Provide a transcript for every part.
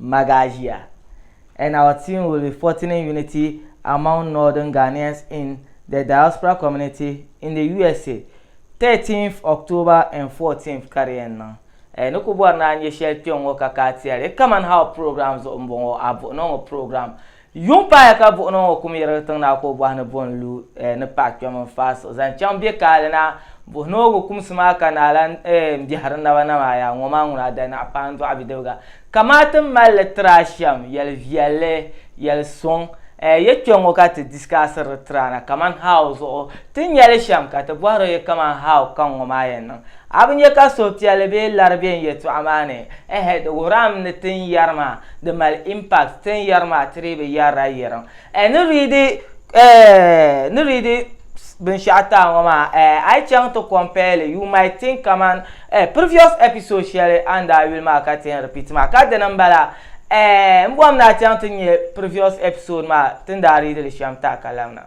Magagia, and our team will be fortining unity among Northern Ghanaians in the diaspora community in the USA, 13th October and 14th ka di yɛn niŋ. Ɛɛ ni ku bɔri ni a nyɛ shɛli kpɛŋŋɔ ka ka a ti a li? Come and Help program zuɣu m-bɔŋɔ, a buɣi ni o ŋɔ program Yuŋ paaya ka buɣunima ŋɔ kum yirigi tiŋ na ka o bɔhi ni bo n-lu eh ni paɣa kpɛm n-faai siɣi zaŋ chaŋ be kaali na. Buɣi ni o gu kumsi maa ka naa lan eh m-biɛhiri n naba na maa, Yaa ŋɔ maa ŋuna a danaɣ paandɔɣu bidibiga, kamaa ti mali li tiri a shɛm yɛli viɛlli, yɛli suŋ eh ya kpe ŋɔ ka ti disikaasiri di tiri a na kaman how zuɣu ti nya li shɛm ka ti bɔhiri o ya kaman how kaŋ ŋɔ maa yɛn niŋ. A bi nya ka suhupiɛlli bee lari be n yɛltɔɣa maa ni? Ɛhɛ, di wuhirami ni tin yɛri maa di mali impact, tin yɛri maa ti dii bi yɛrila yɛrim. Ɛɛ ni readi ɛɛ ni readi binshɛɣu taai ŋɔ maa ɛɛ a yi chaŋ ti compare li you might think kaman ɛɛ previous episode shɛli a ni daa yuli maa ka ti yɛn repeat maa ka dini m-bala. Ɛɛ m bɔhim ni a chaŋ ti nya previous episode maa ti ni daa readi li shɛm taai ka labina.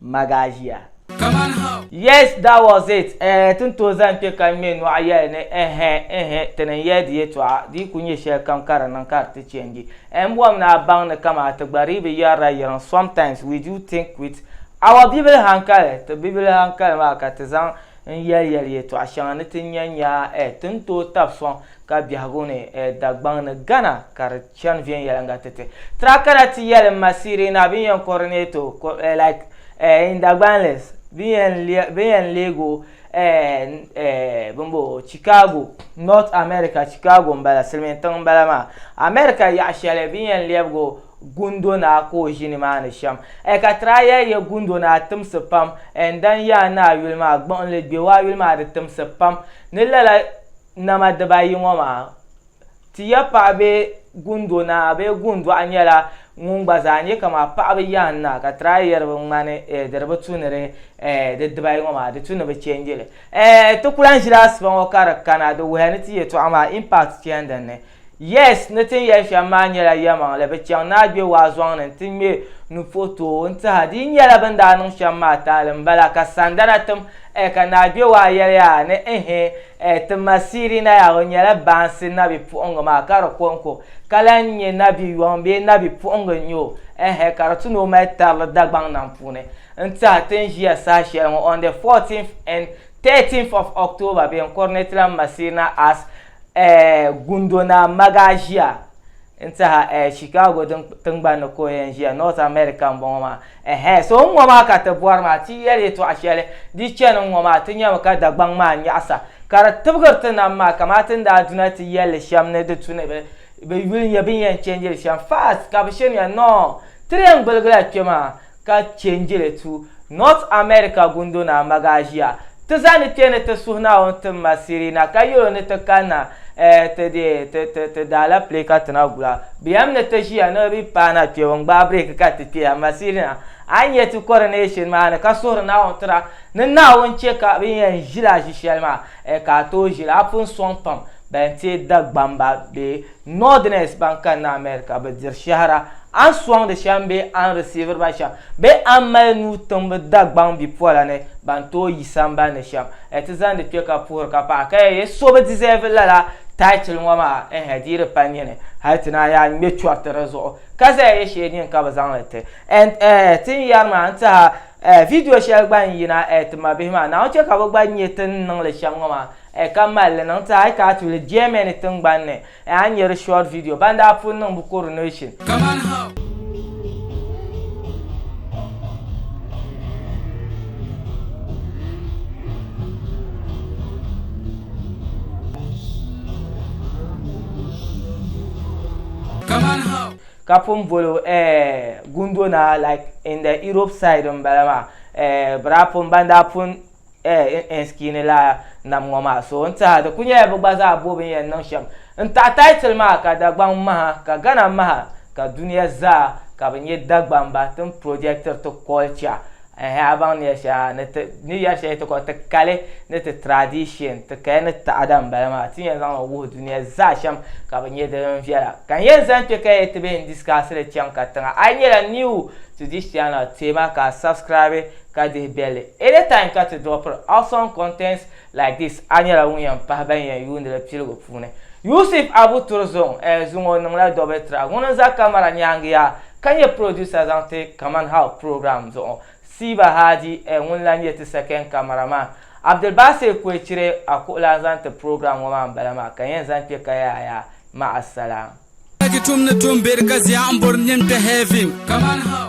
Magasia. Yes that was it eh ti ni tooi zani kpe ka n ŋme nɔɣu yɛli ni ɛhɛ ɛhɛ ti ni yɛli di yɛtɔɣa di yi ku nyɛ shɛlikam ka di niŋ ka di ti change eh n bɔhim ni a baŋ ni kaman ti gba dii bi yɛrila yiŋ sometimes we do think with our bibili hankali ti bibili hankali maa ka ti zaŋ n yɛli yɛli yɛtɔɣa shɛŋa ni ti nya nya eh ti ni tooi tabi sɔŋ ka biɛhigu ni eh Dagbaŋ ni Ghana ka di Chani viɛnyɛliŋga ti ti. Tra kana ti yɛlim ma Sirina bini yɛn coordinato eh, like eh, in Dagbanlis bini yɛn lia, bini yɛn leeg o eh, eh, bini bo Chicago, North America, Chicago m-bala, silimiin tiŋ m-bala maa, America yaɣa shɛli bini yɛn lɛbig o Gundo Naa ka o ʒi ni maa ni shɛm eh, ka tra yɛli ya Gundo Naa timsi pam eh, n-dan ya a ni a yuli maa gbuɣinli, gbɛgu a yuli maa di timsi pam ni lala nama dibayi ŋɔ maa. Ti ya paɣa bee gundo naa bee gundɔɣu nyɛla ŋun gba zaa nyɛ kama paɣaba yahin naa ka try yɛri bi ŋmani eh, di di bi tu ni di eh, di dibayi ŋɔ maa di tu ni bi change li. Eh, ti ku lahi ʒila asiba ŋɔ ka di kana di wuhiya ni ti yɛtɔɣa maa impact chani din ni. Yes, ni ti ni yɛli shɛm maa nyɛla yɛlimaŋli, bi chaŋ ni a gbe waa zɔŋ ni nti ŋme nu puhi tooi n-tih a. Di yi nyɛla bɛ ni daa niŋ shɛm maa taali m-bala ka sandana tim eh, ka naa gbe waa yɛli yaa ni ehe, Ɛɛ ti ma Sirina yaa o nyɛla baansi nabi puɣingi maa ka di konko ka lan nyɛ nabi yɔŋ bee nabi puɣingi n nyɛ o ɛɛhɛ ka di ti ni o mali tarili Dagbaŋ nam puuni n tiɛha ti ni ʒiya saha shɛli ŋɔ on the 14th and 13th of October bee n kuri ni ti lan ma Sirina as ɛɛ Gundo Naa Magaa ʒiya N tiɛha eh, Chicago din tingbani ni ka o yɛn ʒiya, North America m-bɔŋɔ maa. Ɛhɛɛ, so n-ŋɔ maa ka ti bɔri maa, ti yi yɛli yɛtɔɣ shɛli di chani n-ŋɔ maa, ti nyami ka Dagbaŋ maa nyaɣisa, ka di tibigiri ti nam maa kamaa ti ni daa du na ti yɛl li shɛm ni di tu ni bɛ bɛ yuli nyɛ bɛ ni yɛn change li shɛm. Fast! Ka bɛ shirinya, Noo! Ti di yɛn gbiligila kpe maa. ka chɛ n-je li tu North America gundo ni a magaʒia. Ti zaa ni kpe ni ti suhi Naawuni ti ma Sirina ka yɛl o ni ti kanna eh ti deei ti ti ti daalɛpile ka ti na gula. Bɛ yɛm ni ti ʒiya ni bɛ paana kpɛbu n-gbaai breeki ka ti kpe amaa Sirina a ni yɛn ti kɔri ni yi shiri maa ni ka suhiri Naawuni tira ni Naawuni chɛ ka bɛ yɛn ʒila ʒishɛli maa eh ka a tooi ʒili a pun sɔŋ pam bɛn teei Dagbamba bee Northerners ban kanna America bi diri shɛhira, a ni sɔŋdi shɛm bee a ni risiiviri ba shɛm, bee a ni mali nuu tiŋbi Dagbaŋ bipola ni ban tooi yi sambani ni shɛm, a ti zaŋdi kpe ka puhiri ka paɣi ka yɛli so bi deserve lala title ŋɔ maa ɛhɛ di yi di pa nini hali ti naan yaa ŋme chɔriti di zuɣu ka zaya yɛ shee nini ka bi zaŋli ti and ɛhɛ ti ni yɛri maa n tihi a ɛhɛ video shɛli gba n yina ɛhɛ ti mabihi maa Naawuni chɛ ka bi gba nyɛ ti ni niŋli shɛm ŋɔ maa Ayi ka mali li niŋ ti ayi ka a tuuli Germany tingbani ni, ayi a ni nya di short video ban daa pun niŋ bɛ coronation. Kaman ha. Kaman ha. Ka pun boli o eh gundo naa like in the Europe side m bala maa eh bɛ daa pun ban daa pun eh, n skini la nam ŋɔ maa so n tiɛha di ku nyɛla bi gba zaa bo bin yɛn niŋ shɛm n taɣi title maa ka Dagbaŋ maha ka Ghana maha ka dunia zaa ka bi nyɛ Dagbamba ti ni projectiri ti culture eh, a baŋ ni yɛli shɛli ha ni ti ni yɛli shɛli ti kɔli ti kali ni ti tradition ti kaya ni taɣada n bala maa ti yɛn zaŋli wuhi dunia zaa shɛm ka bi nyɛ din viɛla ka n yɛn zani kpɛ ka yɛli ti bɛ n discussili chaŋ ka tiŋa a yi nyɛla new to this channel teema ka a subscribe ka dihi bɛlli. Anytime ka ti drop awesome contents like this a nyɛla ŋun yɛn pahi ban yɛn yuuni li piligu puuni. Yusuf Abu Turzong eh zuŋɔ o niŋla double track ŋuni n-za camera nyaaŋa yaa ka nyɛ producer zaŋ ti Kaman How program zuɣu. Siiba Hadi eh ŋuni lan nyɛ ti second camera man. Abdulbasir Kwecire a kuɣulan zaŋ ti program ŋɔ maa m-bala maa ka yɛn zaŋ kpe ka yaaya. Ma'asalaam. Dagi tum ni tum beri ka zia n bori nim te heaven. Kaman how.